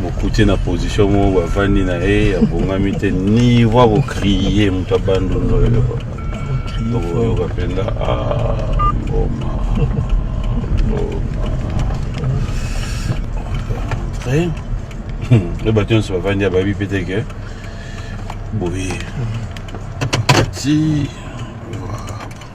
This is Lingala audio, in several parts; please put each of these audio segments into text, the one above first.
mokute na position moko bavandi na ye abongami te niveau akokrie moto abandono oyo okoyoka mpenza mboma e bato nyonso bavandi ya bayebi mpe te ke boye ati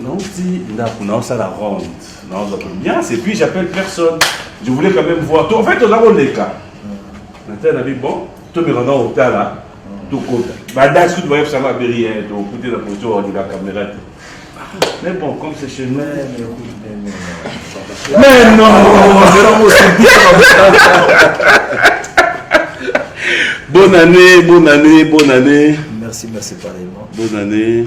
Nauti ndaku naosala ronde naozwa ambiance et puis j'appelle personne je voulais quand même voir en fait toza koleka natala na bi bon tomeka nga kotala tokota badasi kutu bayebisanga aberi ye tokute na poto ornika kamera te mais bon comme c'est chez nous mais non bonne année bonne année bonne année merci merci pareillement bonne année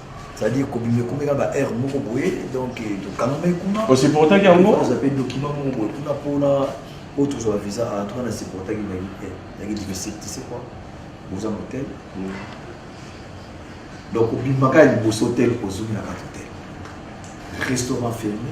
c'est-à-dire kobima ekomi na ba heure moko boye donc eh, tokangami kuna osupportaki yango oza mpe document moko boye kuna mpona oyo tozwa visa a ah, tuka na supportaki nayaki diversite tu sais quoi boza motel mm. donc obimaka ya liboso hotel ozongi na kati hotel restaurant fermé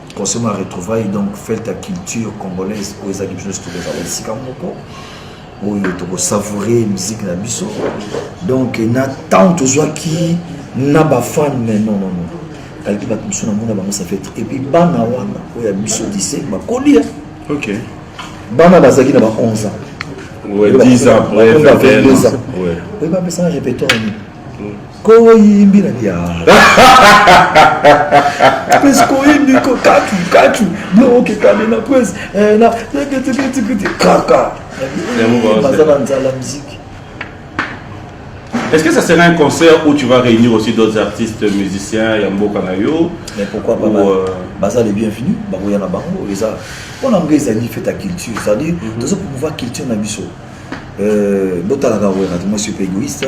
concernant la retrouvaille donc fete ya culture congolaise oyo ezalaki biso nyonso tokozala esika moko oyo tokosavoure miziki na biso donc na ntango tozwaki na bafane mais non non non kalaki bato mosusu na mona bango safete epuis bana wana oyo ya biso dise bakoli ya ok bana bazalaki na ba 11 ans Ouais, 10 ans, ouais, 22 ans. Ouais. Oui, bah, mais ça, répétons. koyimbi na bia pesi koyimbi ko katu katu bloke kani na pesi eh, na teketeketekete kaka baza na nzala miziki Est-ce que ça serait un concert où tu vas réunir aussi d'autres artistes musiciens ya mboka na yo Mais pourquoi pas euh, baza les bienvenus bakoya na bango eza mpona mboka ezali fete ya culture c'est-à-dire tozo promouvoir culture na biso Euh, botalaka werra moi suis pe égoïste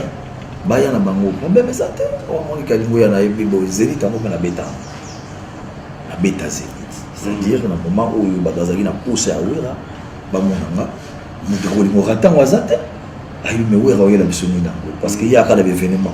baya na bango problème eza te omoni oh, kalingo ya na ye mpe boye zenit yango mpe nabeta nabeta zenit c'est-à-dire na moment oyo bato bazalaki na posa ya werra bamona nga moto akolingo rata yango aza te ayi me werra oyela biso nini yango parce que ye akala baevenement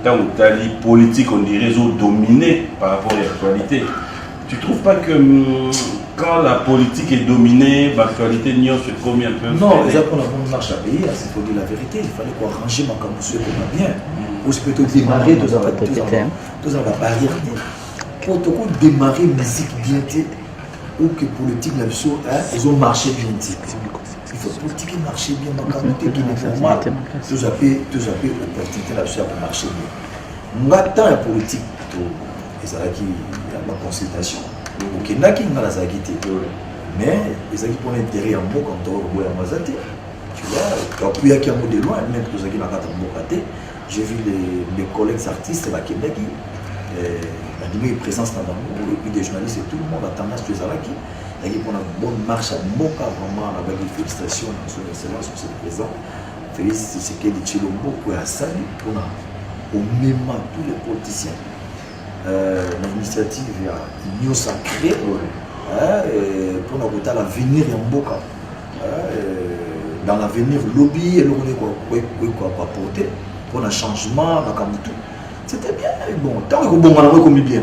Ntango otali politique on dirait ezo domine par rapport ya actualité. Tu trouves pas que mm, quand la politique est dominée, l'actualité nyonso ekomi un peu Non, eza mpona bongo marche ya pays, il faut dire la vérité, il fallait koarranger makambo mosusu ekoma bien. Aussi peut démarrer tozala tozala babarrière te mpo toko démarrer musique bien te ou que politique na biso ezo marche bien te. il faut politique marche bien makambo te kende normal toza mpe toza mpe opportunité na biso ya komarche bien nga temps ya politique to ezalaki ya baconsultation okendaki nga nazalaki te mais ezalaki mpona intérêt ya mboka moto akoboya yango aza te tokuyaki yango de loin meme tozalaki na kata mboka te je vu mes collègues artistes bakendaki bandimaki présence na bango des journalistes et tout le monde atanga soki ezalaki nayaki mpona bonne marche ya mboka vraiment nabaki félicitation na son excellence monsieur le président félix tshisekedi tshilombo oyo asali mpona komema tous les politiciens euh, na initiative ya union sacré mpona euh, kotala avenir ya mboka euh, dans l'avenir lobi eloko nde koaporte mpona changement makambo tout c'était bien bon ntango ekobonga nango ekomi bien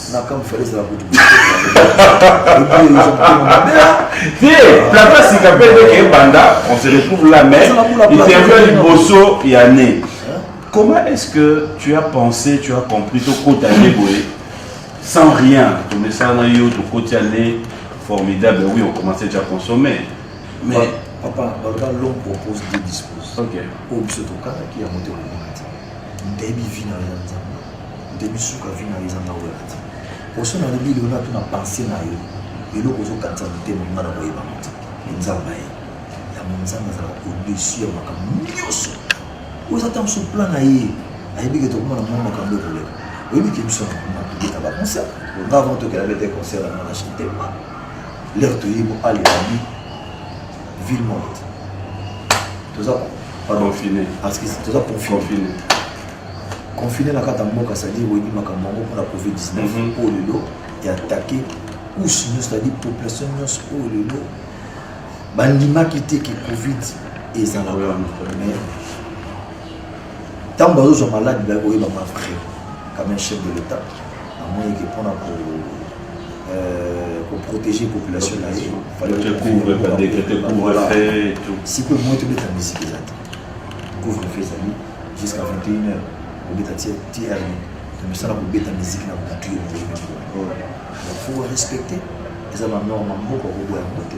makambo fale ezala kutu te plateau ya sika mpe ndeke ebanda on se retrouve là mais interview ya liboso ya ne comment est-ce que tu as pensé tu as compris tokota nde boye sans rien tomesala na yo tokoti ya ne formidable oui on commençait déjà à consommer mais papa baloba l'homme propose de dispose ok oyo biso tokanaki yango te ndebi vie na yo eza nzambe ndebi suka vie na yo eza ngai oyaka te poso na lobi lelo nato na pense na yo eloko ozokanisa motema nga na koyeba mote nzambe ye yango nzambe azalaka odesu ya makambo nyonso oyo eza ntango so plan na ye ayebi ke tokomona mwa makambo ekoleka oyebi ke biso na tobeta baconcert nga avant tokela bete concert yango na chante ma lere toyebi alela bi ville morte toza pardon fine parce que toza confine confine na kata mboka c'est-à-dire oyebi makambo yango mpona covid 19 mhm. oyo lelo eatake couche nyonso c'est-à-dire population nyonso oyo lelo bandimaki te ke covid ezalaka mais ntango bazozwa maladi baye koyeba ma vrai quand même chef de l'état amoni ke mpona ko koprotege euh, population na ye sikoyo moi tobeta misiki eza te couvre feu ezali jusqu'à 21 heure obeta tr misala kobeta miziki na batu yo moyemefo respecte eza banorme mboka koboya yango te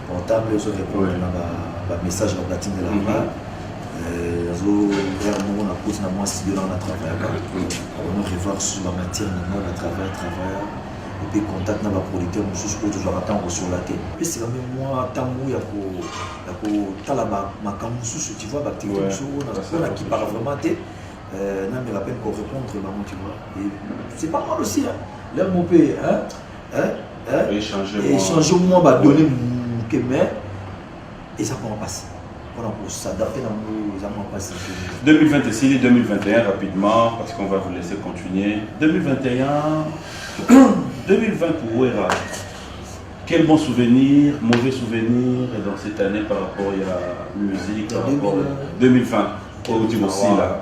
portable ezo repondre na ba message na platine de la mhm. part euh, azo vers moko na kosi na mwa studio na na travaillaka ono revoir sur ba matière na ngai na travail travailleur mpe contact na baproducteur mosusu oyo tozwaka ntango kosola te epesaka mpe mwa ntango ya kotala makambo mosusu tu vois baactivité mosusu oyo nakipaka vraiment te euh, na me rappelle korépondre bango tu vois c'est pas mal aussi hein l'heure mo mpe echange mwa badone moke mais eza mwa mpasi mpona kosadapte na ngo eza mwa mpasi 2020 esili 2021 rapidement parce qu'on va vous laisser continuer 2021 2020 pour wera quel bon souvenir, mauvais souvenir dans cette année par rapport à la musique, par rapport à 2020 Au aussi là.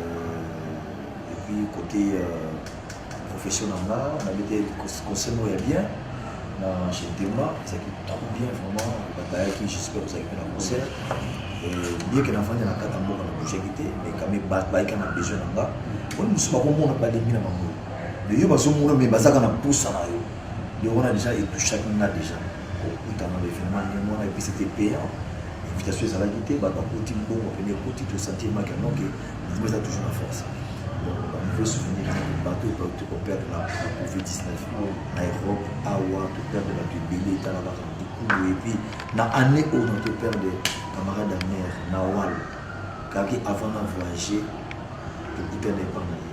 Euh, et puis côté euh, profession na nga nabete conseil moko ya bien na chez Dema ezalaki trop bien vraiment babayaki j'espère ozalaki mpe na concert bien ke nafandi na kata mboka na bougaki te mais quand même bayika na besoin na nga oni mosusu bakomona balingi na bango mais yo bazomona mais bazaka na mposa na yo yo wana déjà etouchaki nga déjà kokutana na evenement ndenge wana epuis ete payant invitation ezalaki te bato bakoti mbongo pene ekoti tosanti emaki yango ke mouvement eza toujours na force baniveau souvenir ezaki bato tokoperdre na covid 19 na europe awa toperdre bato ebele etala kaka bokulu epuis na année oyo na toperdre camarade ya mare na wal kaki avant na voyage tokutana epa na ye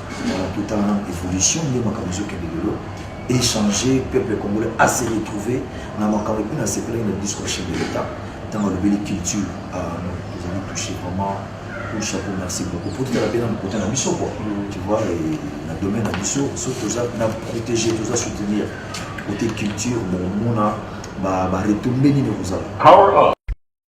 Tota na evolution nde makambo ezokende lelo échanger peuple congolais à se retrouver na makambo epuis na sepelaki na discours chef de l'état ntango alobeli culture ah, ezali touché vraiment pour chapeau merci beaucoup po totala mpe na mokote na biso quoi mm. tu vois na domaine na biso so toza na protégé toza soutenir côté culture bomona baretombeli nini kozala